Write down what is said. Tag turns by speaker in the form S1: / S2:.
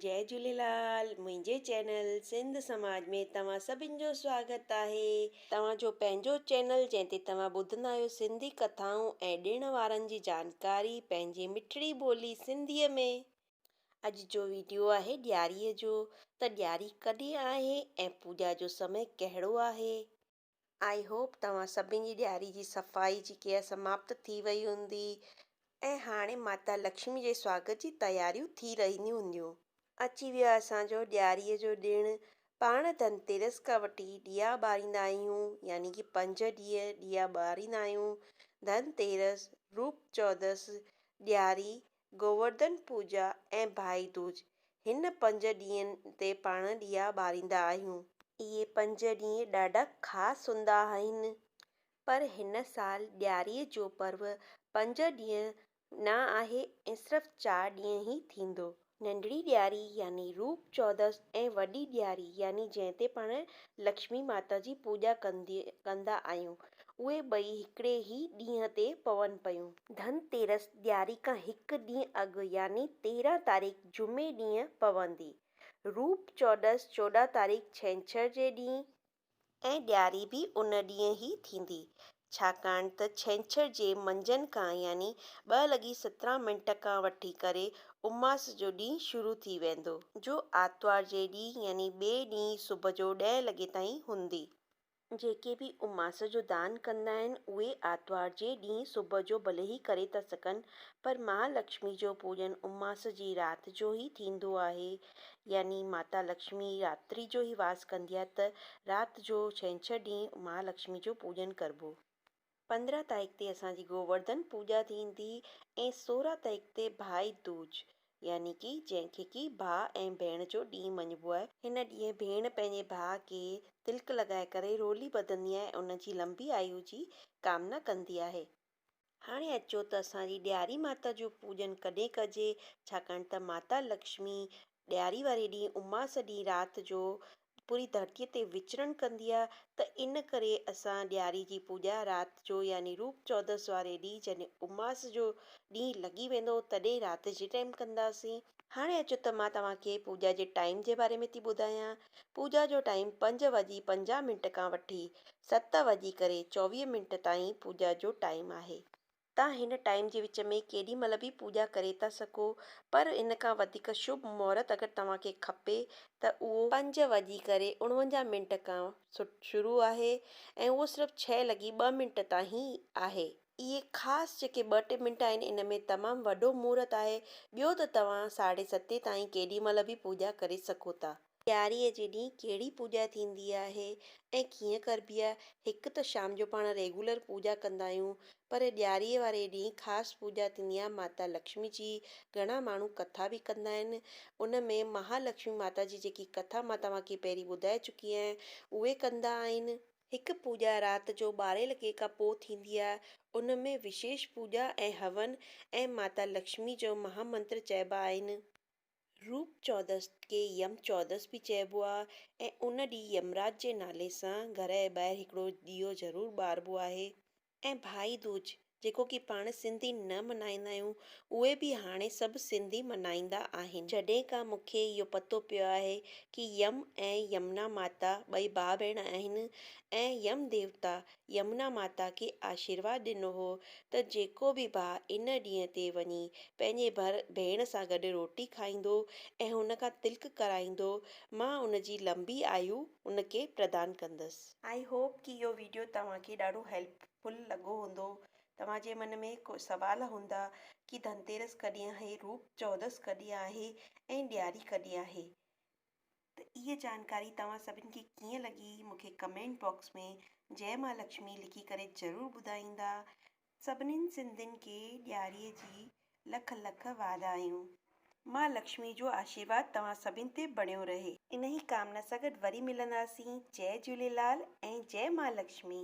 S1: جي جهوليلال منهنجي چينل سنڌ سماج ۾ توهان سڀن جو سواگت آهي. توهان جو پنهنجو چينل جنهن تي توهان ٻڌندا آهيو سنڌي ڪٿائون ۽ ڏڻ وارن جي جانڪاري پنهنجي مٺڙي ٻولي سنڌي ۾. اڄ جو ويڊيو آهي ڏياري جو ته ڏياري ڪڏهن آهي ۽ پوڄا جو سمي ڪهڙو آهي. آئي هوپ توهان سڀني جي ڏياري جي صفائي جي ڪيئر سماپت ٿي وئي هوندي ۽ هاڻي ماتا لڪشمي جي سواگت جي تياريون ٿي رهنديون هونديون. اچي ويو آهي اسان جو ڏياري جو ڏڻ. پاڻ ڌن تيرس کان وٺي ڏيئا ٻاريندا آهيون يعني ڪي پنج ڏينهن ڏيئا ٻاريندا آهيون. ڌن تيرس، روپ چودس، ڏياري گوورڌن پوڄا ۽ ڀائي دوج، هن پنج ڏينهن تي پاڻ ڏيئا ٻاريندا آهيون. اهي پنج ڏينهن ڏاڍا خاص هوندا آهن، پر هن سال ڏياريء جو پرو پنج ڏينهن نه آهي ۽ صرف چار ڏينهن ئي ٿيندو. ننڍڙي ڏياري يعني روپ چودس ۽ وڏي ڏياري يعني جنهن تي پاڻ لڪشمي ماتا جي پوڄا ڪندا آهيون، اهي ٻئي هڪڙي ئي ڏينهن تي پون پيون. ڌن تيرس ڏياري کان هڪ ڏينهن اڳ يعني تيرهن تاريخ جمعي ڏينهن پوندي. روپ چوڏس چوڏهن تاريخ ڇنڇر جي ڏينهن. ۽ ڏياري به ان ڏينهن ئي ٿيندي ڇاڪاڻ ته ڇنڇر جي منجهند کان يعني ٻه لڳي سترهن منٽ کان وٺي ڪري اماس جو ڏينهن شروع ٿي ويندو. جو آرتوار جي ڏينهن يعني ٻئي ڏينهن صبح جو ڏهين لڳي تائين هوندي. جيڪي به اماس جو دان ڪندا آهن، اهي آرتوار جي ڏينهن صبح جو ڀلي ئي ڪري ٿا سگهن، پر مها لڪشمي جو پوڄن اماس جي رات جو ئي ٿيندو آهي. يعني ماتا لڪشمي راتري جو ئي واس ڪندي آهي ته رات جو ڇنڇر ڏينهن مها لڪشمي جو پوڄن ڪربو. پندرهن تائڪ تي اسان جي گوورڌن پوڄا ٿيندي ۽ سورهن تائڪ تي ڀائي دوج يعني ڪي جنهن کي ڪي ڀاء ۽ ڀيڻ جو ڏينهن مڃبو آهي، هن ڏينهن ڀيڻ پنهنجي ڀاء کي تلڪ لڳائي ڪري رولي ٻڌندي آهي ۽ ان جي لنبي آيو جي ڪامنا ڪندي آهي. هاڻي اچو ته اسان جي ڏياري ماتا جو پوڄن ڪڏهن ڪجي ڇاڪاڻ ته ماتا لڪشمي ڏياري واري ڏينهن اماس ڏينهن رات جو پوري ڌرتيء تي وچرڻ ڪندي آ ته ان ڪري اسان ڏياري جي پوڄا رات جو يعني روپ چودس واري ڏينهن جڏهن اماس جو ڏينهن لڳي ويندو تڏهن رات جي ٽائيم ڪنداسين. هاڻي اچو ته مان توهان کي پوڄا جي ٽائيم جي باري ۾ ٿي ٻڌايان. پوڄا جو ٽائيم پنج وڄي پنجاهه منٽ کان وٺي ست وڄي ڪري چوويهه منٽ تائين پوڄا جو ٽائيم آهي. تان هن ٽائيم جي وچ ۾ ڪيڏي مهل به پوڄا ڪري ٿا سگهو پر ان کان وڌيڪ شڀ مهورت اگر توهان کي کپي ته اهو پنج وڄي ڪري اڻونجاهه منٽ کان شروع آهي ۽ اهو صرف ڇهه لڳي ٻه منٽ تائين آهي. اهي خاص جيڪي ٻه ٽي منٽ آهن ان ۾ تمام وڏو مهورت آهي ٻيو ته توهان ساڍي ستين تائين ڪيڏي مهل به پوڄا ڪري سگهو ٿا. ڏياريء جي ڏينهن ڪهڙي پوڄا ٿيندي آهي ۽ ڪيئن ڪربي آهي؟ هڪ ته شام جو پاڻ ريگولر پوڄا ڪندا آهيون پر ڏياريء واري ڏينهن خاص پوڄا ٿيندي آهي ماتا لڪشمي جي. گهڻا ماڻهو ڪٿا به ڪندا آهن. ان ۾ مها لڪشمي ماتا جي جيڪي ڪٿا مان توهان کي پهرين ٻڌائي چڪي آهيان اهي ڪندا آهن. هڪ پوڄا رات جو ٻارهين لڳي کان پوء ٿيندي آهي. ان ۾ وشيش پوڄا ۽ هون ۽ ماتا لڪشمي جو مها منتر چئبا آهن. روپ چودس کي يم چودس به چئبو آهي ۽ ان ڏينهن يمراج جي نالي سان گهر جي ٻاهر هڪڙو ڏيئو ضرور ٻاربو آهي ۽ ڀائي دوج جيڪو ڪي پاڻ سنڌي نه ملهائيندا آهيون اهي به هاڻي سڀ سنڌي ملهائيندا آهن. جڏهن کان مون کي اهو پتو پيو آهي ڪي يم ۽ يمنا ماتا ٻئي ڀاء ڀيڻ آهن ۽ يم ديوتا يمنا ماتا کي آشيرواد ڏنو هو ته جيڪو به ڀاء ان ڏينهن تي وڃي پنهنجي ڀر ڀيڻ سان گڏ روٽي کائيندو ۽ هن کان تلڪ ڪرائيندو مان ان جي لنبي آيو ان کي پردان ڪندس. آئي هوپ ڪي اهو ويڊيو توهان کي ڏاڍو هيلپ فل لڳو هوندو. توهان جي من ۾ ڪو سوال هوندا ڪي ڌنتيرس ڪڏهن آهي، روپ چودس ڪڏهن آهي ۽ ڏياري ڪڏهن آهي. ته اهي جانڪاري توهان سڀن کي ڪيئن لڳي مونکي ڪمينٽ باڪس ۾ جئه مها لڪشمي لکي ڪري ضرور ٻڌائيندا سڀنين سنڌين کي ڏياري جي لک لک واڌايون مها لڪشمي جو آشيرواد توهان سڀين تي بڻيو رهي. انهي ڪامنا سان گڏ وري ملنداسين جئه جهوليلال ۽ جئه مها لڪشمي.